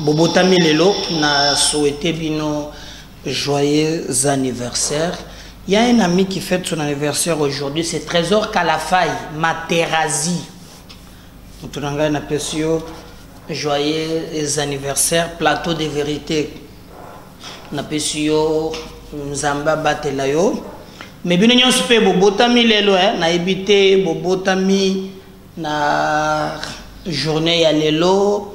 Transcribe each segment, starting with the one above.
bobotami lelo na souhaite bino joyeux anniversaire il y a un ami qui fête son anniversaire aujourd'hui c'est trésor kalafai materazi moto na ngai napesi yo joyeux anniversaire plateau de vérité napesi yo nzambe abatela yo me bino nyonso mpe bobotami lelo eh, nayebi te bobotami Na journee ya lelo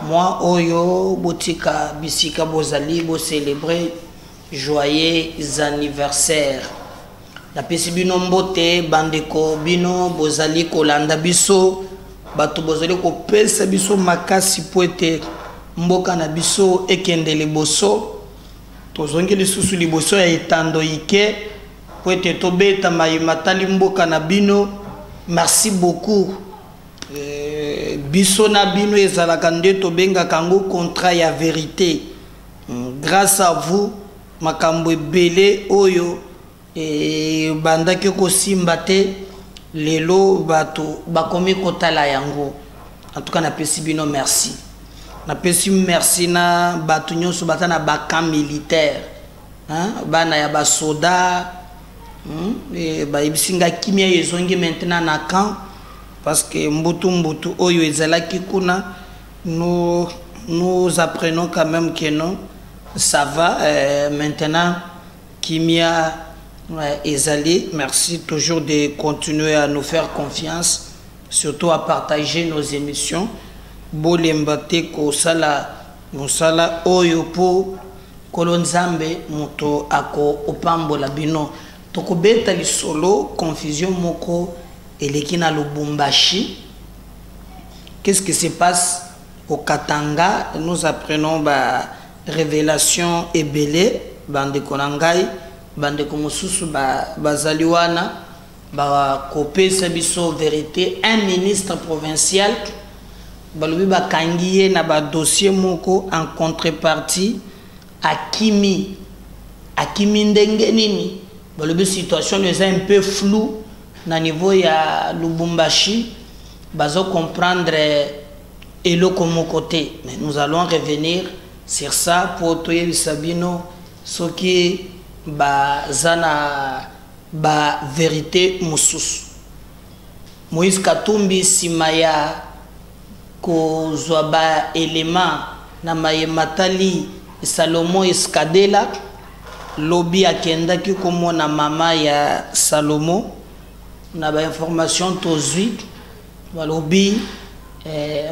mois oyo botika bisika bozali bo celebrer joyeux anniversaire. Napesi bino mbote bandeko bino bozali kolanda biso bato bozali kopesa biso makasi po ete mboka na biso ekende liboso tozongi lisusu liboso ya etando ike mpo ete tobeta maye matali mboka na bino merci beaucoup eh, biso na bino ezalaka nde tobengaka yango contrat ya verite hmm, grâce à vous makambo ebele oyo ebandaki eh, kosimba te lelo bato bakomi kotala yango en tout cas napesi bino merci napesi merci na bato nyonso baza na bacan militaire hein bana ya ba soda hmm? Eh, ba ebisinga kimia ezongi maintenant na camp parce que mbutu mbutu oyo ezalaki kuna nous nous apprenons quand même que non ça va euh, maintenant kimia euh, ezali merci toujours de continuer à nous faire confiance surtout à partager nos émissions bolemba te kosala Musala oyo po nkolo nzambe moto ako opambola bino toko beta lisolo confusion moko eleki na lubumbashi qu'est ce qui se passe au katanga nous apprenons ba revelation ebele ba ndeko na ngai ba ndeko mosusu ba bazali wana bakopesa biso verite un ministre provincial balobi bakangi ye na badossier moko en contrepartie akimi akimi ndenge nini balobi situation no eza un peu flou na niveau ya lubumbashi bazo comprendre eloko moko te mais nous allons revenir sur ça mpo toyebisa bino soki baza na Ba verite mususu. Moise Katumbi sima ya kozua ba elements na maye matali Salomon Escadela, lobi akendaki komona mama ya Salomon. Na ba informations tozui, balobi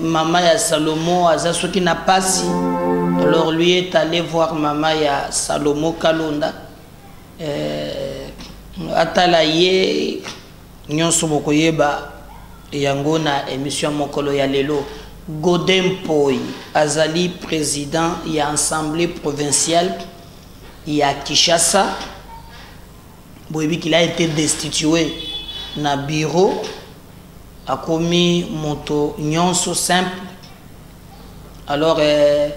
mama ya Salomon aza soki na pasi, alors lui est alle voir mama ya Salomon Kalonda. eh, atala ye nyonso bokoyeba yango na émission mokolo ya lelo gode mpoi azali président ya assemblée provinciale ya kinshasa boyebi qu'il a été destitué na bureau Akomi moto nionso simple alors eh,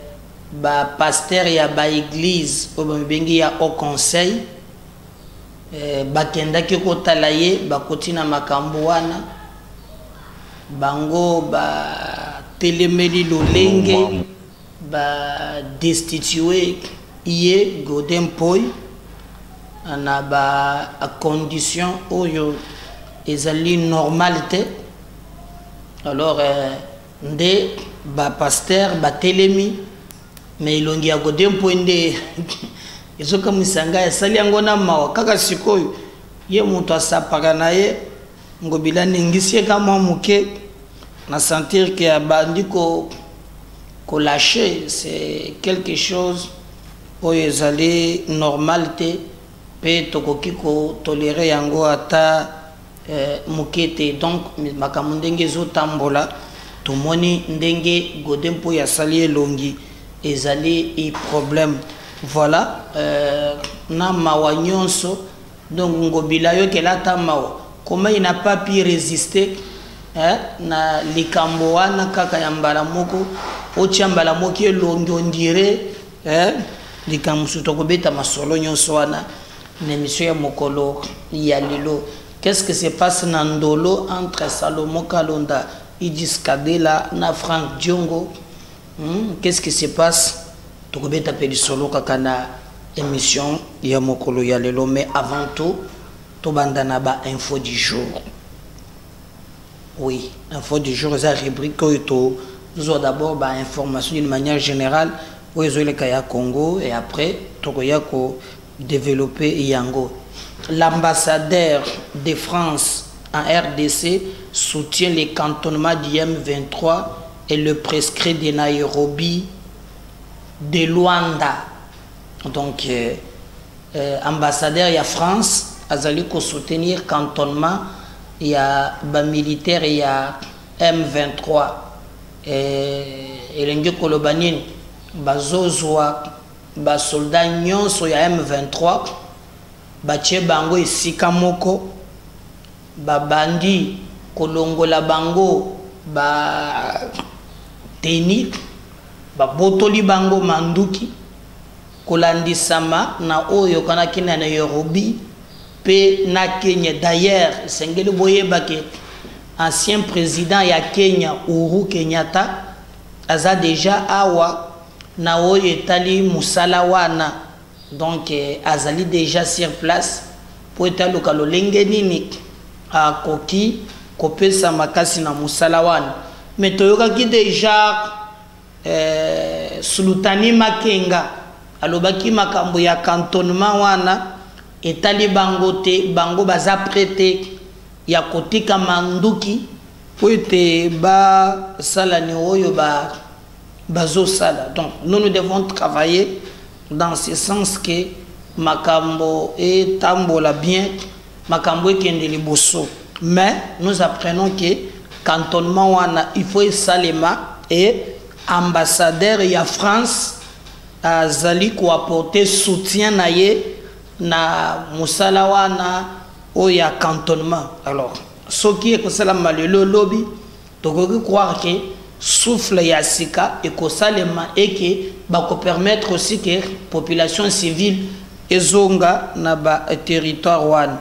ba pasteur ya ba eglise oyo bamibengi ya haut conseil eh, bakendaki kotala ye bakoti na makambo wana bango batelemeli lolenge Ba destitue ye Godin Mpoy na ba condition oyo ezali normal te alors euh, nde ba pasteur batelemi mais elongi ya Godin Mpoy nde ezokamwisa ngai asali yango na mawa kaka sikoyo ye moto asapaka na ye Ngobila ningisi ye ka mwa moke na sentir ke abandi ko kolâche c'est quelque chose oyo ezali normal te mpe tokoki kotolere yango ata eh, moke te donc makambo ndenge ezotambola tomoni ndenge gode mpo asali elongi ezali e problème voilà euh, na mawa nyonso Donc ngobila yokela ata mawa comment il n'a pas pu résister eh, na likambo wana kaka ya mbala moko otya mbala moki elongi ondire eh, likambo mosusu tokobeta masolo nyonso wana na émission ya mokolo ya lelo qu'est-ce que se passe na ndolo entre salomon kalonda idis kabela na frank diongo Hum, qu'est ce qui se passe tokobeta mpe lisolo kaka na émission ya mokolo ya lelo mais avant tout tobanda na bainfo du jour oui info du jour eza rubrique oyo tozwa d'abord bainformation d'une manière générale oyo ezoleka ya congo et après tokoya kodeveloppe yango l'ambassadeur de france en rdc soutient le cantonnement du m 23 et le prescrit de Nairobi de Luanda donc euh, euh, ambassadeur ya France azali ko soutenir cantonnement ya ba militaire ya M23 euh, elingi koloba nini bazozwa basoldat nyonso ya M23 batie bango esika moko Ba bandi kolongola bango ba teni, babotoli bango manduki, kolandisama na oyo eyokanaki na Nairobi mpe na Kenya. D'ailleurs, esengeli boyeba que ancien president ya Kenya Uhuru Kenyatta aza dejà awa na oyo etali mosala wana. Donc azali dejà sur place mpo ete aluka lolenge nini akoki kopesa makasi na mosala wana. Mais toyokaki dejà eh, Sulutani Makenga alobaki makambo ya cantonnement wana etali bango te, bango baza près te ya kotika manduki mpo ete basala ni oyo ba Bazo sala donc nous nous devons travailler dans ce sens que makambo etambola bien makambo ekende liboso mais nous apprenons que cantonnement wana il faut esalema et ambassadeur ya France azali ko apporter soutien na ye na musala wana oyo ya cantonnement alors soki ekosalama lelo lobi Tokoki croire que souffle ya sika ekosalema et que bako permettre aussi que population civile ezonga na ba territoires wana.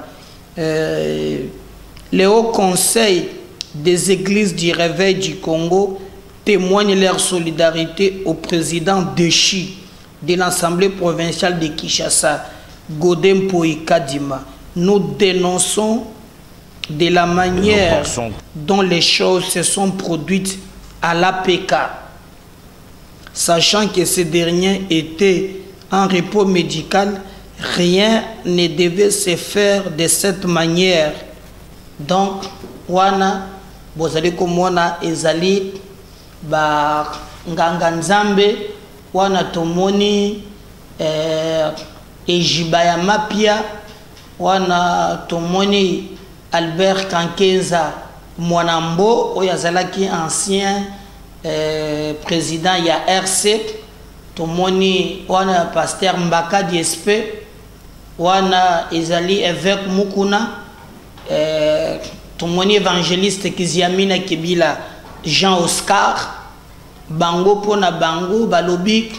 Le Haut Conseil des Eglises du Reveil du Congo temoigne leur solidarite au president dechu de l'Assemblée provinciale de Kinshasa, Gode Mpoyi Kadima. Nous denonçons de la manière dont les choses se sont produites à l'APK, sachant que ce dernier était en repos médical, rien ne devait se faire de cette manière. Donc, wana bozali komona ezali ba nganga nzambe wana tomoni eh, ejiba ya mapia Wana tomoni Albert Kankenza Mwana Mbo oyo azalaki ancien president ya RC, tomoni wana pasteur Mbaka Diespe, wana ezali eveque Mukuna, tomoni evangeliste Kiziamina Kibila Jean Oscar, bango mpo na bango balobi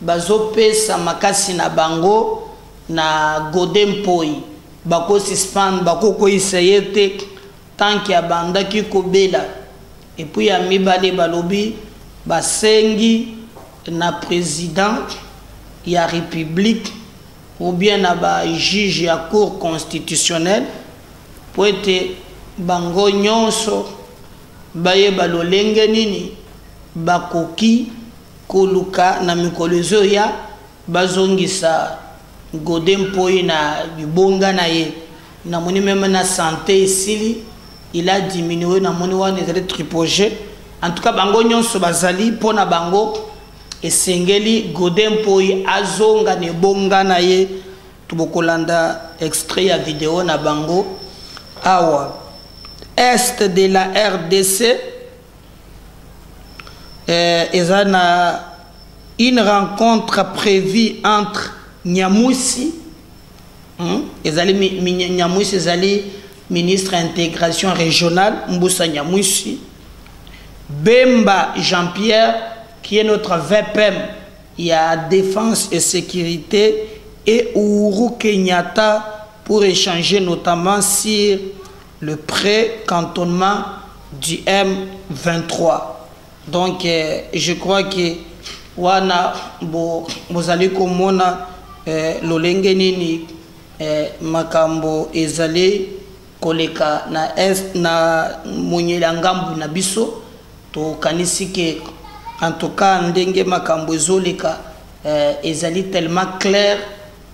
bazopesa makasi na bango. na gode mpoi bako suspendre bako kweyisa ye te tant que abandaki kobela epuis ya mibale balobi basengi na president ya republique ou bien na ba juge ya cour constitutionnelle mpo ete bango nyonso bayeba lolenge nini bakoki koluka na mikolo ezoya Bazongisa gode mpoye na libonga na ye namoni meme na sante esili il a diminue namoni wana ezali tripoge en tout cas bango nyonso bazali mpo na bango esengeli gode mpoye azonga na ebonga na ye tobokolanda extrait ya video na bango awa est de la rdc euh, eza na une rencontre prévue entre Nyamusi hmm? ezali mi, mi, Nyamusi ezali ministre ya intégration régionale Mbusa Nyamusi Bemba Jean-Pierre qui est notre VPM ya défense et sécurité et Uhuru Kenyatta pour échanger notamment sur le près cantonnement du M23 donc euh, je crois que wana bo bozali komona euh, lolenge nini euh, makambo ezali koleka na est na monyeli ya ngambu na biso tokanisi ke en tout cas ndenge makambo ezoleka euh, ezali tellement claire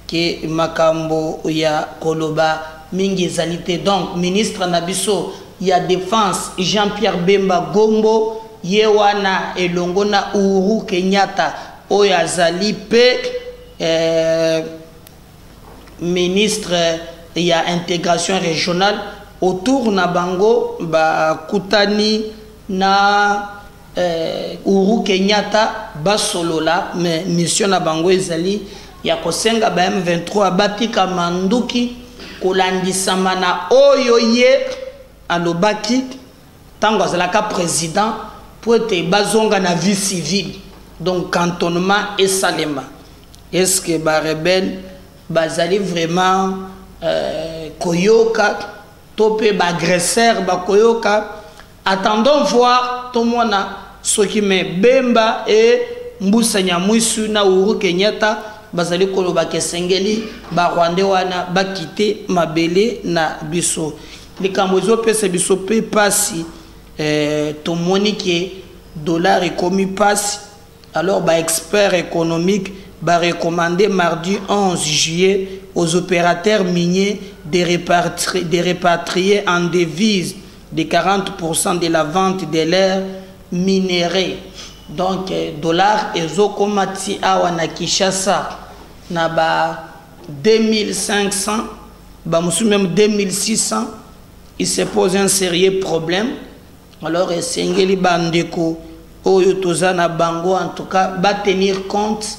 que makambo ya koloba mingi ezali te donc ministre na biso ya defense Jean Pierre Bemba Gombo ye wana elongo na Uhuru Kenyatta oyo azali mpe eh, ministre ya integration regionale autour na bango bakutani na eh, Uru Kenyatta basolola mais mission na bango ezali ya kosenga ba M23 bapika manduki kolandisama na oyo ye alobaki ntango azalaka président mpo ete bazonga na vie civile donc cantonnement esalema est ce que barebele bazali vraiment euh, koyoka to mpe baagresseur bakoyoka Attendons voir tomona soki me Bemba et Mbusa Nyamwisu na Uhuru Kenyatta bazali koloba ke esengeli ba Rwandais wana ba kite mabele na biso. Likambo ezo pesa biso pe pasi eh, tomoni ke dollar ekomi pasi alors ba experts économiques ba recommander mardi 11 juillet aux opérateurs miniers de repatrier, de repatrier en devise de 40 pourcent de la vente de leur minerais donc euh, dollar ezokoma ti awa na kinshasa na ba 2500 bamosusu meme 2600 il se pose un sérieux problème alors esengeli bandeko oyo toza na bango en tout cas batenir compte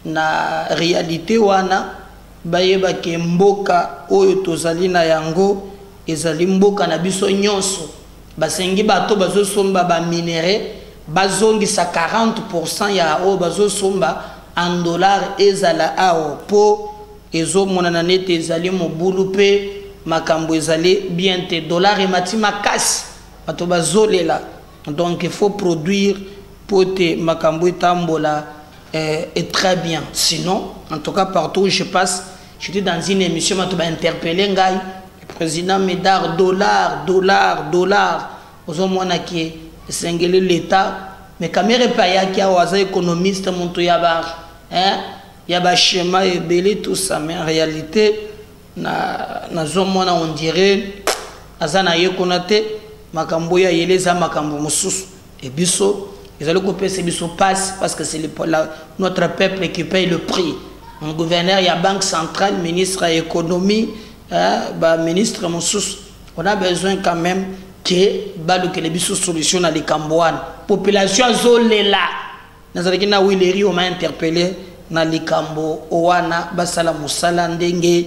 na réalité wana bayeba ke mboka oyo tozali na yango Ezali mboka na biso nyonso. Basengi bato bazo somba ba minerais bazongisa 40 pour cent ya oyo bazo somba en dollars ezala awa mpo ezo monana neti ezali mobulu mpe makambo ezali bien te. Dollars emati makasi bato bazo lela donc il faut produire mpo ete makambo etambola eh, et très bien sinon en tout cas partout où je passe J'étais dans une émission bato ba interpelle ngai le président Médard dollar dollar dollar ozomona ke esengeli l'État mais Kamerhe mpe ayaki awa aza économiste moto ya ba hein, ya ba schéma ebele tout ça mais en réalité na nazomona on dirait aza na ye kuna te makambo oyo ayeli eza makambo mosusu Et biso ezali kopesa biso pasi parce que c'est notre peuple qui paye le prix. Mon gouverneur ya banque centrale, ministre ya économie, hein, ba ministre mosusu, on a besoin quand même que balukele biso solution na likambo wana. Population azolela. Nazalaki na Willery on m'a interpellé na likambo wana basala musala ndenge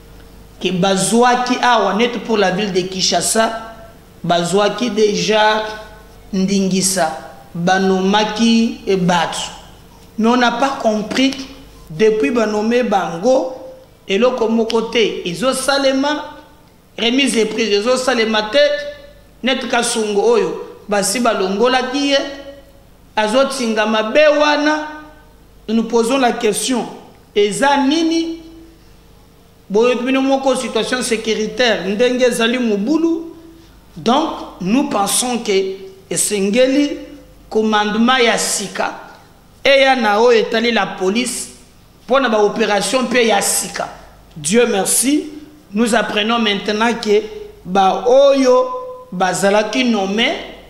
que bazuaki awa net pour la ville de Kinshasa bazuaki deja ndingisa banomaki batu mais on n'a pas compris depuis banome bango eloko moko te ezosalema remise de prise ezosalema te net kasongo oyo basi balongolaki ye azotinga mabe wana nous posons la question eza nini Boyebi bino moko situation securitaire ndenge ezali mobulu donc nous pensons que esengeli commandement ya sika eya na oyo etali la police mpo na baopération mpe ya sika dieu merci nous apprenons maintenant ke baoyo bazalaki nome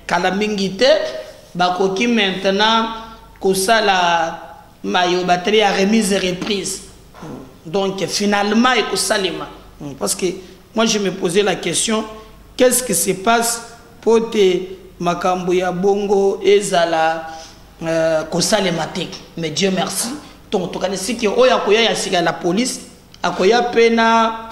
kala mingi te bakoki maintenant kosala Mayo batterie ya remise reprise. Donc finalement ekosalema hmm, parce que moi je me posais la question qu'est-ce qui se passe po te makambo ya bongo ezala euh, kosalema te mais Dieu merci ntongo tokanisiki oyo akoya ya sika ya la police akoya mpe na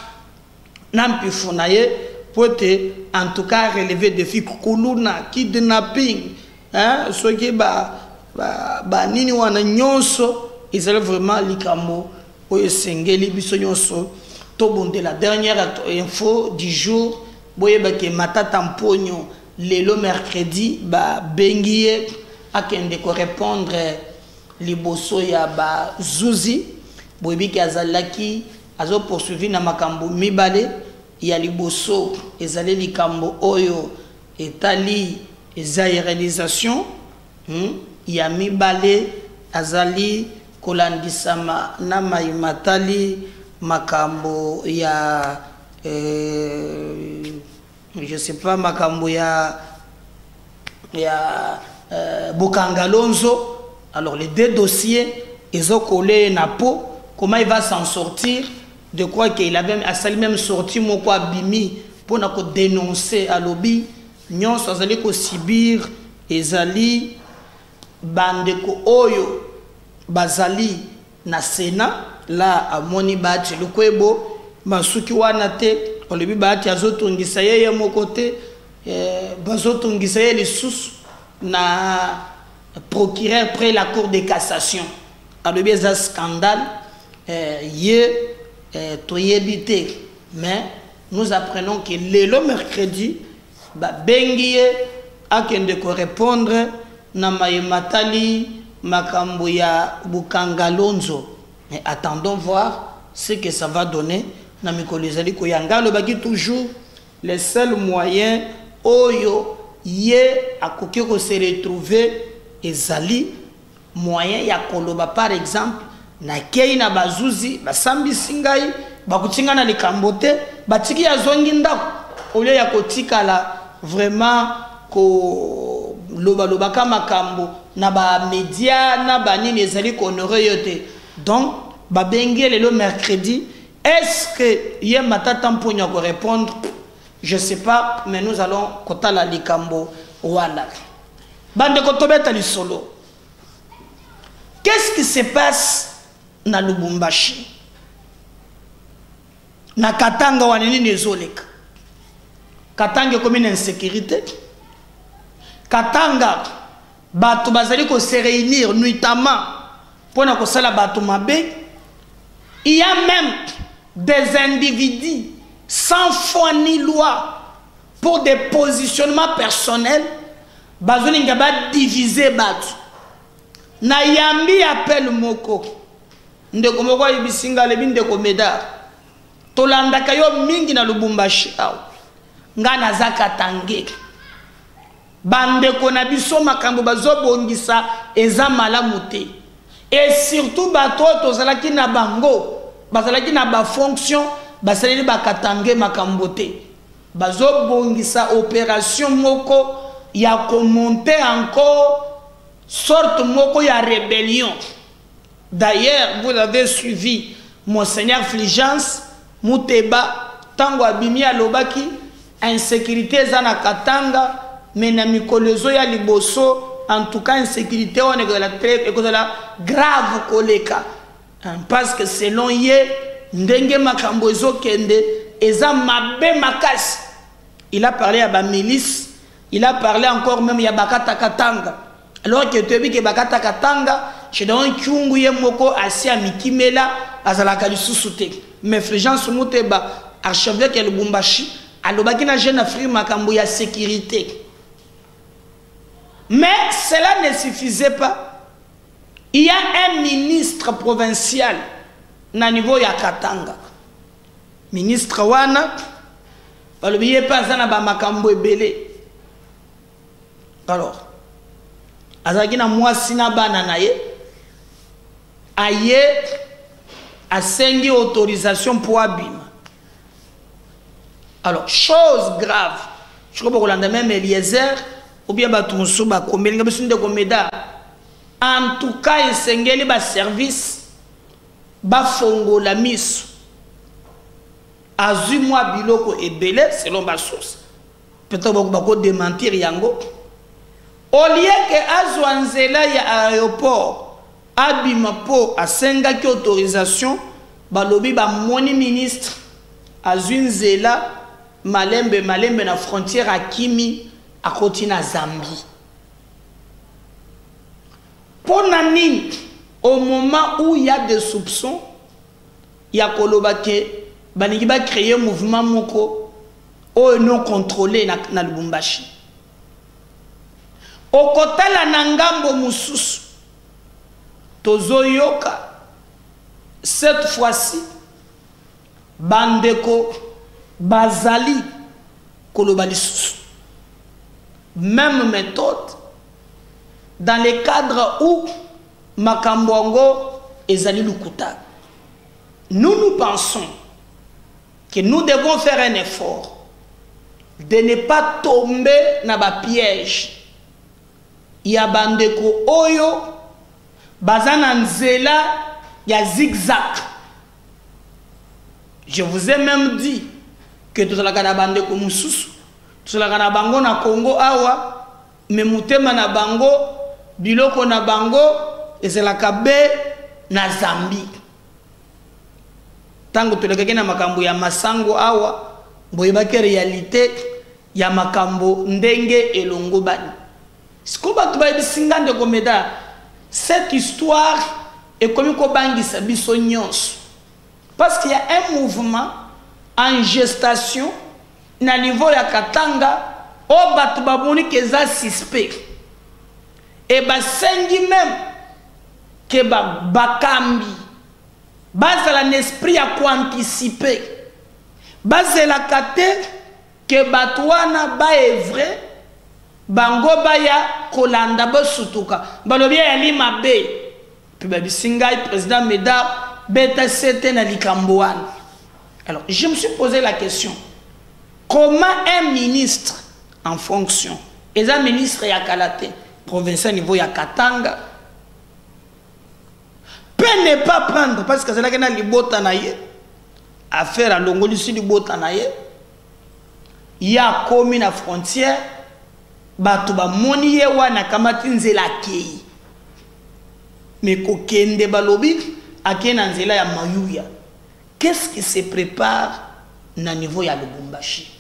na mpifu na ye mpo ete en tout cas releve defi kuluna kidnapping hein, soki banini ba, ba wana nyonso ezali vraiment likambo oyo esengeli biso nyonso tobundela dernière info du jour boyeba ke matata mponyo lelo mercredi babengi ye akende korepondre liboso ya bazuzi boyebi ke azalaki Azo poursuivre na makambo mibale, ya liboso ezali likambo oyo etali zaïrelisation, ya mibale azali kolandisama na maye matali makambo ya. je sais pas makambo ya ya euh, bokanga lonzo alors les deux dossiers ezokolee na po comment il va s'en sortir de quoi qu'il avait asali même sorti moko abimi mpo na kodenonce alobi nyonso azali kosibir ezali bandeko oyo bazali na senat la amoni bahati lukwebo basuki wana te olobi bahati azotungisa ye ye moko te eh, bazotungisa ye lisusu na procureur près la cour de cassation alobi eza scandale eh, ye eh, toyebi te mais nous apprenons que lelo mercredi Babengi ye akende ko repondre na maye matali makambo ya Bukangalonzo mais attendons voir ce que ça va donner na mikolo ezali koya. Nga alobaki toujours le seul moyen oyo ye akoki ko se retrouver ezali. moyen ya koloba par exemple nakeyi na bazuzi basambisi ngai bakuti ngai na likambo te batiki ye azongi ndako olio ya kotikala vraiment kolobalobaka makambo na bamedia na banini ezali kohonore yo te donc babengi ye lelo mercredi est ce que ye matata mponio akorepondre je sais pas mais nous allons kotala likambo wana Bandeko tobeta lisolo. Qu'est-ce qui se passe na Lubumbashi? Na Katanga wana nini ezoleka? Katanga ekomi na insécurité. Katanga bato bazali ko se réunir nuitamment mpo na kosala bato mabe. Il y a même des individus sans foi ni loi pour des positionnements personnels bazolinga badivise bato nayambi appel moko ndeko moko ayebisi ngai alebi ndeko medar tolandaka yo mingi na lubumbashi awa ngai naza katangeke Ba ndeko na biso makambo bazo bongisa eza malamu te et surtout bato oyo tozalaki na bango bazalaki na ba fonction basaleli ba katangais makambo te bazo bongisa operation moko ya komonte encore sorte moko ya rebellion D'ailleurs vous avez suivi Monseigneur Fulgence Muteba tango abimi alobaki insecurite eza na Katanga mais na mikolo ezoya liboso en tout cas insecurite wana ekozala très ekozala grave koleka hein, parce que selon ye ndenge makambo ezokende eza mabe makasi il a parlé ya ba milice il a parlé encore même ya bakata katanga alors que toyebi ke bakata katanga gedeon kyungu ye moko asi amikimela azalaka lisusu te mais fulgence muteba archevêque ya lubumbashi alobaki na jeune afrique makambo ya sécurité mais cela ne suffisait pas il y a un ministre provincial na niveau ya katanga ministre wana balobi ye mpe aza na bamakambo ebele alors azalaki na mwasi na bana na ye aye asengi autorisation mpo abima alors chose grave sikoyo bokolanda meme eliezer obien bato mosusu bakomelinga biso ndeko meda en tout cas esengeli baservice bafongola miso azwi mwa biloko ebele selon basource Peut-être bako bako dementir yango. Au lieu que azwa nzela ya aéroport abima po asengaki autorisation balobi bamoni ministre azwi nzela malembe malembe na frontière akimi akoti na Zambie. Mpo na nini au moment où il y a des soupçons ya koloba ke balingi ba créer mouvement moko Oyo non controle na, na Lubumbashi. Okotala na ngambo mususu. Tozoyoka cette fois-ci bandeko bazali koloba lisusu même méthode dans le cadre où makambo yango ezali lokuta nous nous pensons que nous devons faire un effort de ne pas tomber na ba piège ya bandeko oyo baza na nzela ya zigzag je vous ai même dit que tozalaka na bandeko mosusu tozalaka na bango na congo awa me motema na bango biloko na bango ezalaka be na zambie ntango tolekaki na makambo ya masango awa boyebaki realite ya makambo ndenge elongobani siko bato bayebisi nga ndeko meda cette histoire ekomi kobangisa biso nyonso parce qu'il y a un mouvement en gestation na niveau ya katanga oyo bato bamoni ke eza suspect e basengi meme que ba bakambi bazala na esprit ya koanticipe bazelaka te ke bato wana baevre bango baya kolanda bosutuka balobi ayali mabe mpe babisi ngai président médard beta sete na likambo wana alors je me suis posé la question comment un ministre en fonction eza ministre ya kala te provincial niveau ya katanga pe ne pas prendre parce que azalaki na libota na ye affaire alongolisi libota na ye ye akomi na frontière bato bamoni ye wana akamati nzela akei me kokende balobi akei na nzela ya mayuya qu'est ce qui se prépare na niveau ya lubumbashi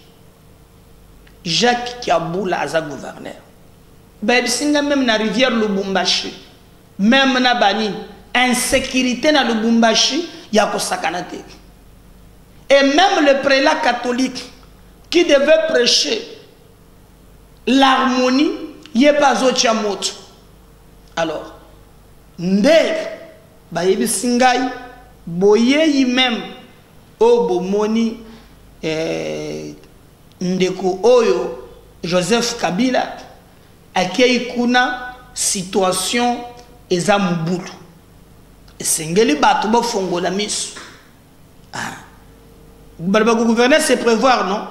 Jacques Kiabula aza gouverneur. Bayebisi nga meme na rivière Lubumbashi. Meme na bani insécurité na Lubumbashi ya kosakana te. Et même le prélat catholique qui devait prêcher l'harmonie ye pas azotia moto. Alors nde bayebisi ngai boyeyi meme Oyo bomoni eh, ndeko oyo Joseph Kabila akei kuna situation eza mobulu esengeli bato bofongola miso ah. balo bakogouverne se prévoir non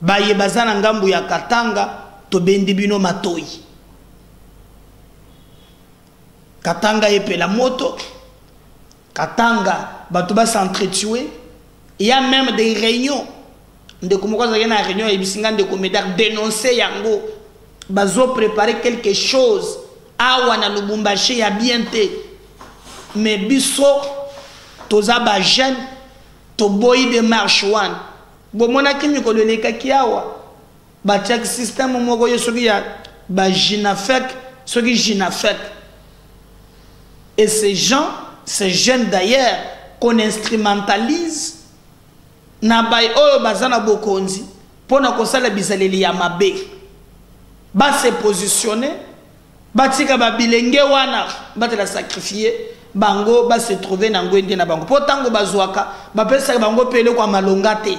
baye baza na ngambo ya katanga tobendi bino matoi katanga epela moto Katanga bato ba s'entretuer il y a même des réunions ndeko moko azalaki na réunion ayebisi ngai ndeko medar dénonce yango bazo préparer quelque chose awa na lubumbashi ya bien te mais biso toza bajeune toboyi demarche wana bomonaki mikolo elekaki awa Batiaki système moko yo soki ya ba Ginafec soki Ginafec et ces gens ces jeunes d'ailleurs qu'on instrumentalise na baye oyo baza na bokonzi mpo na kosala bizaleli ya mabe base positionne batika babilenge wana batela sacrifie bango base trouve na ngwende na bango mpo ntango bazwaka bapesaka bango mpe eloko ya malonga te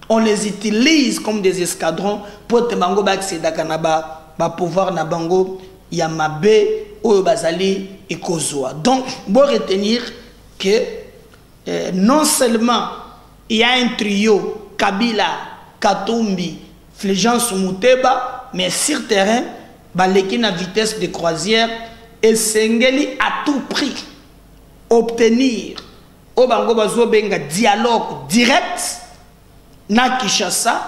on les utilise comme des escadrons mpo te bango baaccedaka na ba, ba pouvoir na bango ya mabe oyo bazali ekozwa donc bo retenir que euh, non seulement il y a un trio kabila katumbi fulgence muteba mais sur terrain baleki na vitesse de croisière esengeli à tout prix obtenir oyo bango bazobenga dialogue direct na kinshasa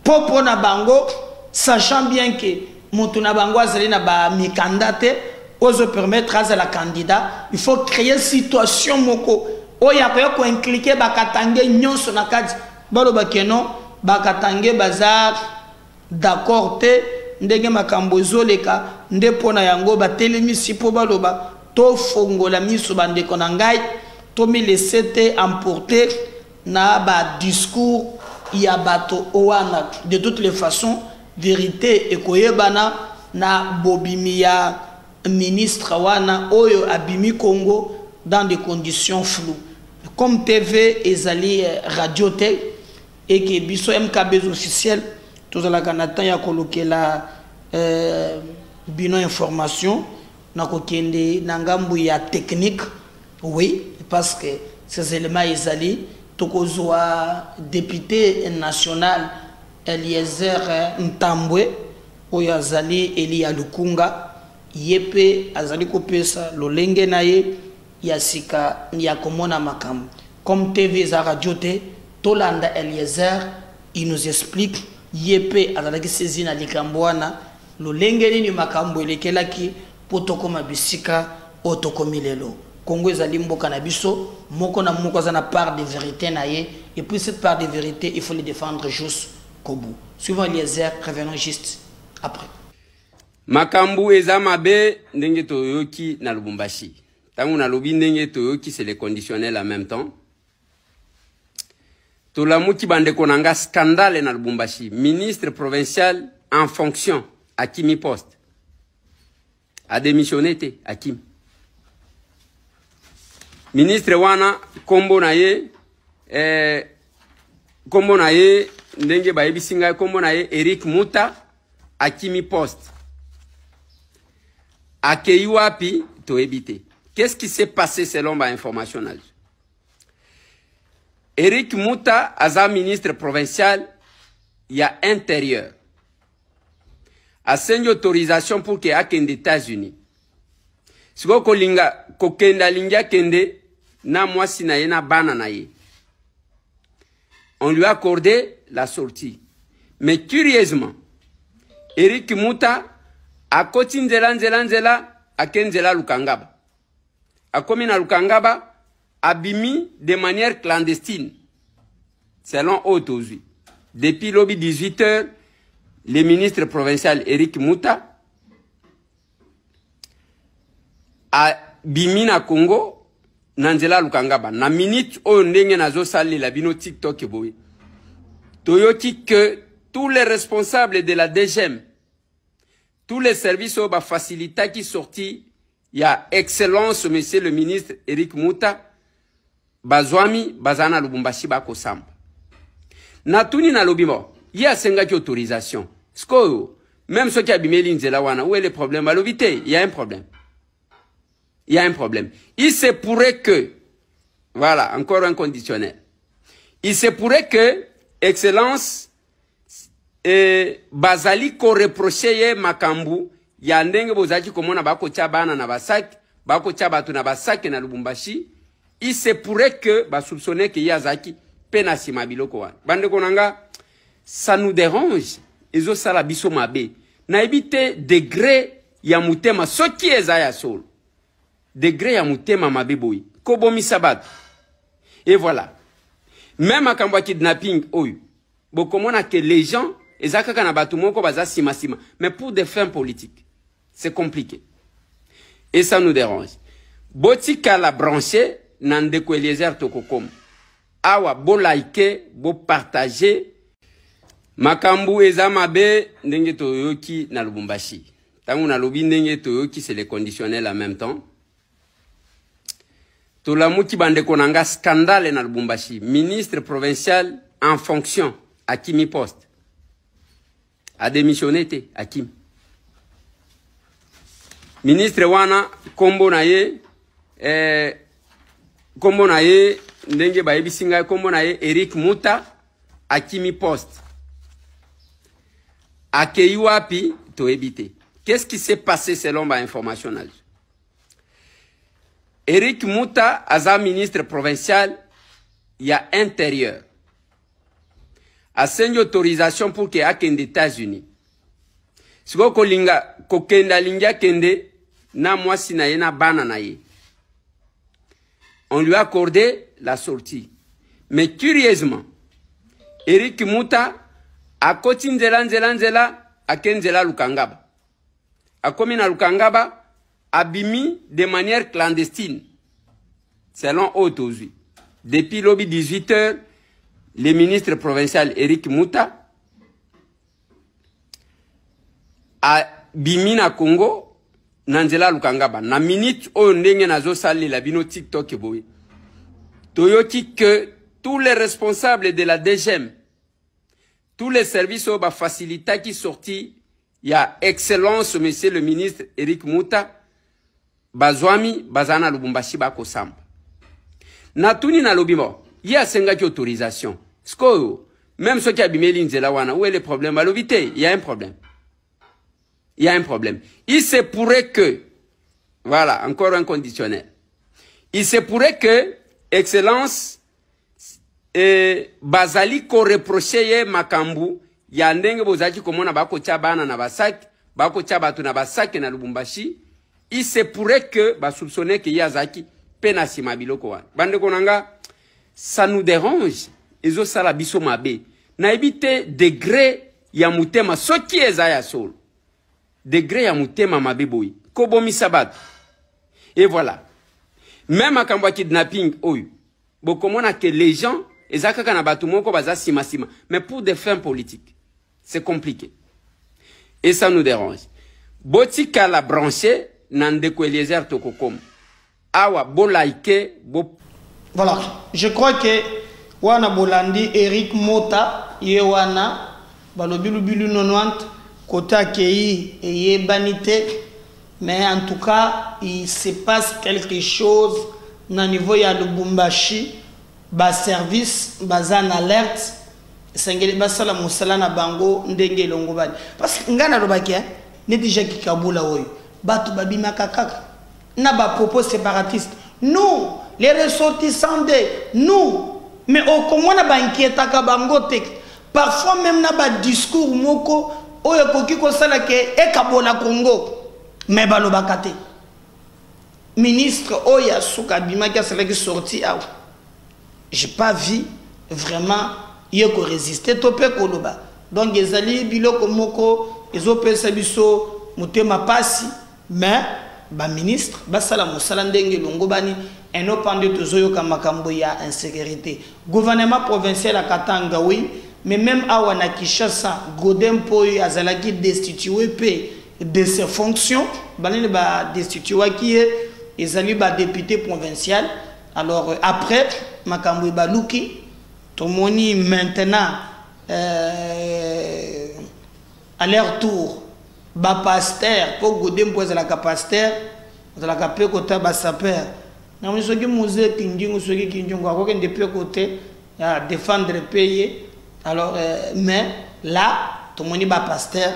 mpo mpo na bango sachant bien ke moto na bango azali na bamikanda te oyo ezopermettre azala candidat il faut créer situation moko oyo akoya koinklike bakatange nyonso na kati baloba keno bakatange baza D'accord te ndenge makambo ezoleka nde pona yango ba telemisi po baloba to fongola misu ba ndeko na ngai to mi laisser te emporter na ba discours ya bato wana de toutes les façons verite ekoyebana na bobimi ya ministre wana oyo abimi Congo dans des conditions floues comme TV ezali radio te et que biso MKBs officiel tozalaka na temps ya kolukela euh, bino information na kokende na ngambo ya technique oui parce que ces éléments ezali tokozwa député national eliezer ntambwe oyo azali eli ya lukunga ye mpe azali kopesa lolenge na ye ya sika ya komona makambo comme TV eza radio te tolanda Eliezer il nous explique ye pe azalaki saisi na likambo wana lolenge nini makambo elekelaki po tokoma bisika oyo tokomi lelo. Congo ezali mboka na biso moko na moko aza na part de verite na ye et puis cette part de verite il faut le defendre jusqu'au bout. Suivons Eliezer revenons juste après. makambo eza mabe ndenge toyoki na lubumbashi ntango nalobi ndenge toyoki se le conditionnel en même temps tolamuki bandeko na nga scandale na lubumbashi ministre provincial en fonction akimi poste ademissione te akimi ministre wana nkombo na ye eh, nkombo na ye ndenge bayebisi ngai nkombo na ye eric muta akimi poste akei wapi toyebi te qu'est-ce qui s'est passé selon bainformation na biso eric muta aza ministre provincial ya intérieur asengi autorisation pour ke akende états-unis sikoyo kolinga kokende alingi akende na mwasi na ye na bana na ye On lui a accordé la sortie. Mais curieusement, Eric Muta a koti nzela nzela nzela ake nzela Lukangaba. Akomi na Lukangaba abimi de manière clandestine. Selon Otozi. Depuis lobby 18h, le ministre provincial Eric Muta abimi na congo na nzela ya lukangaba na minute oyo ndenge nazosalela bino tiktok boye toyoki que tous les responsables de la dgm tous les services oyo bafacilitaki sorti ya excellence monsieur le ministre eric muta bazwami bazala na lubumbashi bakosamba natuni nalobi mo ye asengaki autorisation sikoyo meme soki abimeli nzela wana où est le problème balobi te ya un problème ya un problème il se pourrait que voilà encore un conditionnel il se pourrait que excellence e, bazali koreproche ye makambo ya ndenge bozalaki komona bakotya bana na basaki bakotya bato na basaki na lubumbashi il se pourrait que basoupçonne ke ye azalaki mpe na nsima biloko wana bandeko na nga ça nous dérange ezosala biso mabe nayebi te degre ya motema soki eza ya solo degre ya motema mabe boye kobomisa bato e voilà me makambo ya kidnapping oyo bokomona ke les gens eza kaka na bato moko baza simasima mais pour des fins politiques c'est compliqué et ça nous dérange botikala branche na ndeko eliezer tokokoma awa bolike bopartage makambo eza mabe ndenge toyoki na lubumbashi ntango nalobi ndenge toyoki se le conditionnel en même temps tolamuki bandeko na nga scandale na lubumbashi ministre provincial en fonction akimi poste ademissione te akimi ministre wana nkombo na ye eh, nkombo na ye ndenge bayebisi ngai nkombo na ye eric muta akimi poste akei wapi toyebi te qu'est-ce qui s'est passé selon bainformation na biso eric muta aza ministre provincial ya intérieur asengi autorisation pour ke akende états-unis sikoyo kolinga kokende alingi akende na mwasi na ye na bana na ye On lui a accordé la sortie. Mais curieusement, Eric Muta a koti nzela nzela nzela ake nzela Lukangaba. Akomi na Lukangaba abimi de manière clandestine. Selon Otozi. Depuis lobby 18h, le ministre provincial Eric Muta abimi na congo na nzela ya lukangaba na minute oyo ndenge nazosalela bino tiktok boye toyoki que tous les responsables de la dgm tous les services oyo bafacilitaki sorti ya excellence monsieur le ministre eric muta bazwami bazala na lubumbashi bakosamba natuni nalobi mo ye asengaki autorisation sikoyo meme soki abimeli nzela wana où est le problème balobi te ya un problème ya un problème il se pourrait que voilà encore un conditionnel il se pourrait que excellence e, bazali koreproche ye makambo ya ndenge bozalaki komona bakotya bana na basaki bakotya bato na basaki na lubumbashi il se pourrait que basoupçonne ke ye azalaki mpe na nsima biloko wana bandeko na nga ça nous dérange ezosala biso mabe nayebi te degre ya motema soki eza ya solo degre ya motema mabe boye kobomisa bato e voilà me makambo ya kidnapping oyo bokomona ke les gens eza kaka na bato moko baza simasima mais pour des fins politiques c'est compliqué et ça nous dérange botikala branche na ndeko eliezer tokokoma Awa bo like bo. Voilà, je crois que wana bolandi Eric Mota ye wana balobi lubilu 90 kota kei eyebani te mais en tout cas il se passe quelque chose na niveau ya Lubumbashi ba service baza na alerte esengeli basala mosala na bango ndenge elongobani parce que ngai nalobaki neti Jacques Kabula oyo bato babimaka kaka na ba propos separatiste nous les ressortissants de nous mais okomona ba inquietaka bango te parfois même na ba discours moko oyo ekoki kosala ke ekabola congo mais balobaka te ministre oyo ya suka abimaki asalaki sorti awa j'ai pas vu vraiment ye koresiste to mpe koloba donc ezali biloko moko ezopesa biso motema mpasi Mais ba ministres basala musala ndenge elongobani et non pas nde tozoyoka makambo ya insecurite. Gouvernement provincial ya Katanga oui, mais meme awa na Kinshasa, Godin Mpoyi azalaki destitue mpe de ses fonctions. Banani ba destituaki ye? Ezali ba deputes provincial. Alors après makambo ebaluki, tomoni maintenant euh, A leur tour, ba pasteurs, po Gode mpo azalaka pasteur, azalaka pe kota ba sapeur. Na moni soki Muse Kingingu, soki Kingingu akokende pe kote ya defendre pe ye. Alors, euh, mais là, tomoni ba pasteurs,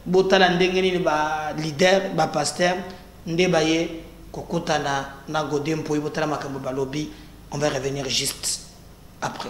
botala ndenge nini ba leaders, ba pasteurs nde baye kokutana na Gode mpo botala makambo balobi. On va revenir juste après.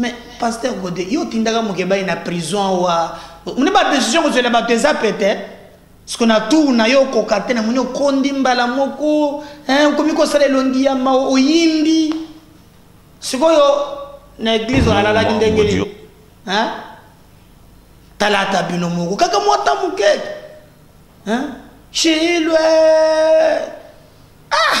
mais pasteur gode yo otindaka mokebai na prison awa moni badecision kozwela bato eza pete siko na tour na yo okoka te namoni okondi mbala moko okomi kosala elongi ya ma oyindi sikoyo na eglize alalaki ndenge nini talata bino moko kaka mwata moke shilwe ah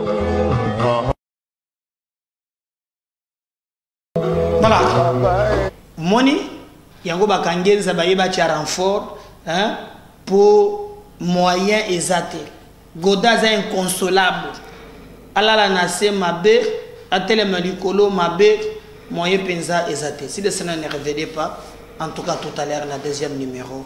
voilà moni yango bakangi enza baye batya renfort mpo moyen eza te goda aza inconsolable alala na se mabe atelema likolo mabe moyen mpenza eza te si lesena ne revede pas en tout cas tout à l'heure na deuxième numéro